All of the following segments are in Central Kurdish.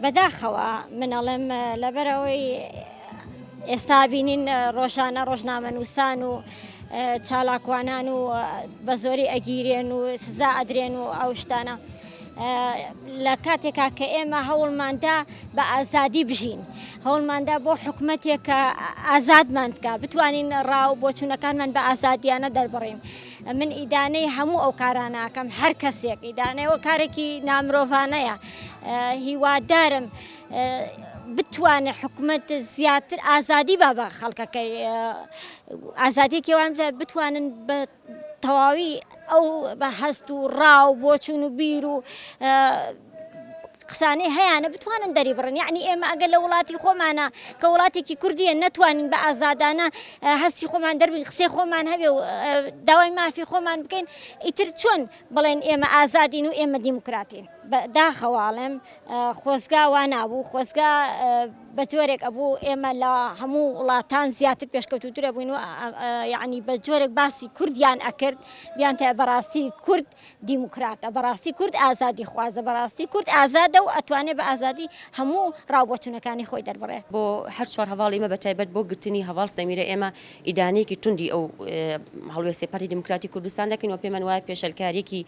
بەداخەوە من ئەڵێم لەبەرئەوەی ئێستا بینین ڕۆژانە ڕۆژنامەنووسان و چالاکوانان و بە زۆری ئەگیرێن و سزا ئەدرێن و ئەو شتانە لە کاتێکا کە ئێمە هەوڵماندا بە ئازادی بژین هەوڵماندا بۆ حکوومەتێک کە ئازادمان بکە بتوانین ڕاو بۆچوونەکانمان بە ئازادیانە دەربڕین من ئیدانەی هەموو ئەو کاراناکەم هەر کەسێک ئیدانەوە کارێکی نامرۆڤانەیە هیوادارم بتوانێت حکوومەت زیاتر ئازادی با بە خەڵکەکەی ئازادیەکیوان بتوانن بە تەواوی ئەو بە هەست و ڕاو بۆچوون و بیر و قسانەی هەیانە بتوانن دەریبڕن یەعنی ئێمە ئەگەر لە وڵاتی خۆمانە کە وڵاتێکی کوردیە نەتوانین بە ئازادانە هەستی خۆمان دەربین قسەی خۆمان هەبێ و داوای مافی خۆمان بکەین ئیتر چۆن بڵێن ئێمە ئازادین و ئێمە دیموکراتین داخەواڵێم خۆزگا وا نابوو خۆزگا بە جۆرێک ئەبوو ئێمە لە هەموو وڵاتان زیاتر پێشکەوتوترە بووین و یعنی بە جۆرێک باسی کوردیان ئەکرد بیان تا بەڕاستی کورد دیموکراتە بەڕاستی کورد ئازادی خوازە بەڕاستی کورد ئازادە و ئەتوانێ بە ئازادی هەموو ڕاوبۆچونەکانی خۆی دەربڕێ. بۆ هەر چوار هەڤاڵ ئیمە بە تایبەت بۆ گرتنی هەڤاڵ سەمیرە ئێمە ئیدانەیەکی توندی ئەو هەڵوێستەی پارتی دیموکراتی کوردستان دەکەین و پێمان وایە پێشەلکاریەکی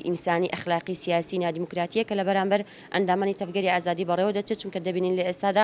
ئینسانی ئەخلاقی سیاسی نادیموکراتیە کە لە بەرامبەر ئەندامانی تەڤگەری ئازادی بەڕێوە دەچێت چونکە دەبینین لە ئێستادا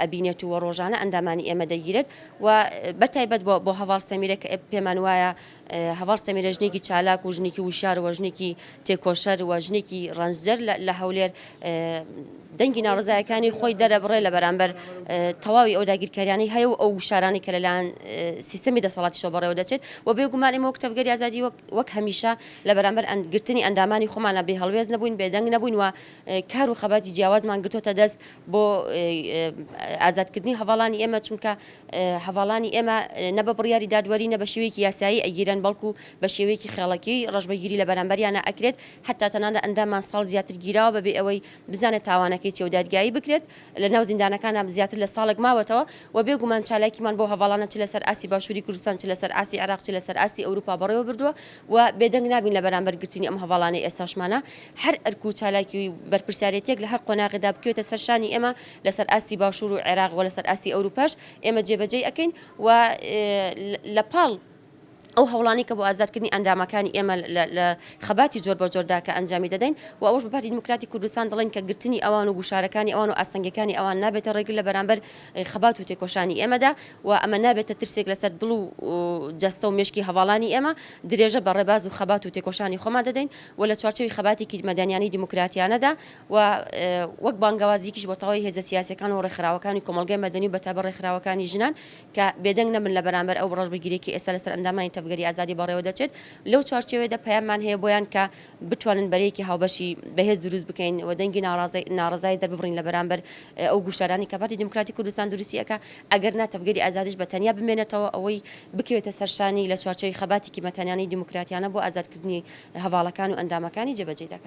ئەبینێت و ڕۆژانە ئەندامانی ئێمە دەگیرێت و بەتایبەت بۆ بۆ هەواڵ سەمیرە کە پێمان وایە هەواڵ سەمیرە ژنێکی چالاک و ژنێکی وشار وە ژنێکی تێکۆشەر وە ژنێکی ڕەنجدەر لە هەولێر دەنگی ناڕزایەکانی خۆی دەرەبڕێ لە بەرامبەر تەواوی ئەو داگیرکاریانی هەیە و ئەو وشارانی کە لەلاەن سیستمی دەسەڵاتی شۆ بەڕێوە دەچێت و بێگومان ئمە کتەبگەری ئازادی وەک هەمیشە لە بەرامبەر ئەندگرتنی ئەندامانی خۆمانە بێ هەڵوێز نەبووین بێدەنگ نەبووین و کار و خەباتی جیاوازمان گرتوتە دەست بۆ ئازادکردنی هەڤاڵانی ئێمە، چونکە هەڤاڵانی ئێمە نە بە بڕیاری دادوەری نە بە شێوەیەکی یاسایی ئەگیرێن، بەڵکو بە شێوەیەکی خێڵەکی ڕەشبەگیری لە بەرامبەریانا ئەکرێت، حەتتا تەنانەت ئەنداممان ساڵ زیاتر گیراوە بە بێ ئەوەی بزانێت تاوانەکەی چیە و دادگایی بکرێت، لە ناو زیندانەکانا زیاتر لە ساڵێک ماوەتەوە و بێ گومان چالاکیمان بۆ هەڤاڵانە چ لە سەر ئاستی باشوری کوردستان چ لە سەر ئاستی عێراق چ لە سەر ئاستی ئەوروپا بەڕێوە بردوە و بێدەنگ نابین لە بەرامبەر گرتنی ئەم هەڤاڵانەی ئێستاشمانا هەر ئەرک و چالاکی و بەرپرسیارێتیەک لە هەر قۆناغێدا بکەوێتە سەر شانی ئێمە لە سەر ئاستی باشوور و عێراق و لە سەر ئاستی ئەوروپاش ئێمە جێ بە جێی ئەکەین و لە پاڵ ئەو هەوڵانەی کە بۆ ئازاد کردنی ئەندامەکانی ئێمە لە خەباتی جۆر بە جۆردا کە ئەنجامی دەدەین و ئەوەش بە پارتی دیموکراتی کوردستان دەڵێین کە گرتنی ئەوان و گوشارەکانی ئەوان و ئاستەنگەکانی ئەوان نابێتە ڕێگر لە بەرامبەر خەبات و تێکۆشانی ئێمەدا و ئەمە نابێتە ترسێک لە سەر دڵ و جەستە و مێشکی هەڤاڵانی ئێمە درێژە بە ڕێباز و خەبات و تێکۆشانی خۆمان دەدەین و لە چوارچێوی خەباتێکی مەدەنیانەی دیموکراتیانەدا و وەک بانگەوازیکیش بۆ تەواوی هێزە سیاسیەکان و ڕێکخراوەکانی کۆمەڵگای مەدەنی و بەتایبەت ڕێکخراوەکانی ژنان کە بێدەنگ نەبن لە بەرامبەر ئەو ڕەشبگیریەی کە ئێستا لەسەر ئەندامانی تەڤگەری ئازادی بەڕێوە دەچێت لەو چوارچێوەیەدا پەیاممان هەیە بۆیان کە بتوانن بەرەیەکی هاوبەشی بەهێز دروست بکەین و دەنگی ناڕەزایی دەرببڕین لە بەرامبەر ئەو گوشارانەی کە پارتی دیموکراتی کوردستان دروستی ئەکا ئەگەر نا تەڤگەری ئازادیش بە تەنیا بمێنێتەوە ئەوەی بکەوێتە سەر شانی لە چوارچێوەی خەباتێکی مەتانیانەی دیموکراتیانە بۆ ئازادکردنی هەڤاڵەکان و ئەندامەکانی جێبەجێی دەکات.